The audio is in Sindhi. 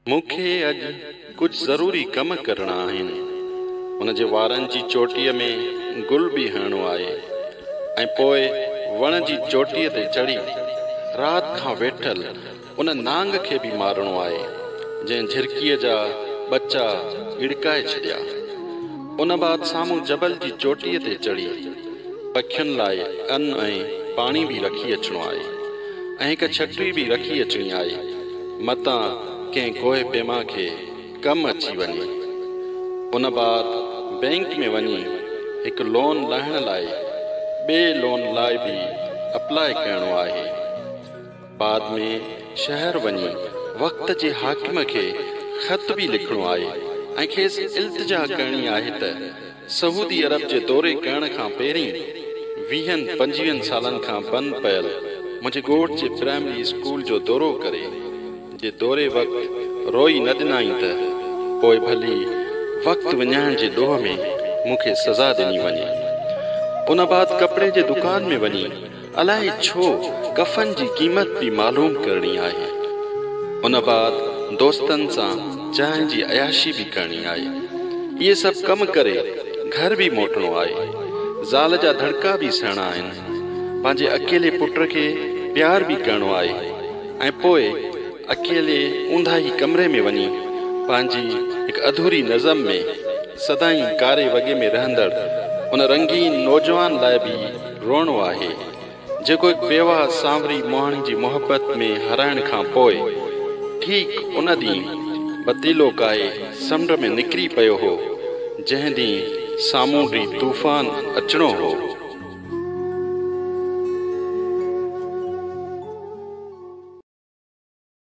مون کي اڄ ڪجهه ضروري ڪم ڪرڻا آهن. هن جي وارن جي چوٽيء ۾ گل به هڻڻو آهي ۽ پوء وڻ جي چوٽيء تي چڙهي رات کان ويٺل ان نانگ کي به مارڻو آهي، جنهن جهرڪيء جا ٻچا ڳڙڪائي ڇڏيا. ان بعد سامهون جبل جي چوٽيء تي چڙهي پکين لاء ان ۽ پاڻي به رکي اچڻو آهي ۽ هڪ ڇٽري به رکي اچڻي آهي، متان ڪنهن ڪوهه پيما کي ڪم اچي وڃي. ان بعد بئنڪ ۾ وڃي هڪ لون لاهڻ لاء ٻئي لون لاء به اپلاء ڪرڻو آهي. بعد ۾ شهر وڃي وقت جي حاڪم کي خط به لکڻو آهي ۽ کيس التجا ڪرڻي آهي ته سعودي عرب جي دوري ڪرڻ کان پهرين ويهن پنجويهن سالن کان بند پيل منهنجي ڳوٺ جي پرائمري اسڪول جو دورو ڪري جي دوري وقت روئي نه ڏنائين ته پوء ڀلي وقت وڃائڻ جي ڏوهه ۾ مون کي سزا ڏني وڃي. ان بعد ڪپڙي جي دڪان ۾ وڃي الائي ڇو ڪفن جي قيمت به معلوم ڪرڻي آهي. ان بعد دوستن سان چانهه جي عياشي به ڪرڻي آهي. اهي سڀ ڪم ڪري گهر به موٽڻو آهي. زال جا ڌڙڪا به سهڻا آهن. پنهنجي اڪيلي پٽ کي پيار به ڪرڻو آهي ۽ پوء اڪيلي اونداهي ڪمري ۾ وڃي پنهنجي هڪ اڌوري نظم ۾ سدائين ڪاري وڳي ۾ رهندڙ ان رنگين نوجوان لاء به روئڻو آهي، جيڪو هڪ بيواهه سانوري مهڻي جي محبت ۾ هارائڻ کان پوء ٺيڪ ان ڏينهن بتيلو ڪاهي سمنڊ ۾ نڪري پيو هو، جنهن ڏينهن سامونڊي طوفان اچڻو هو.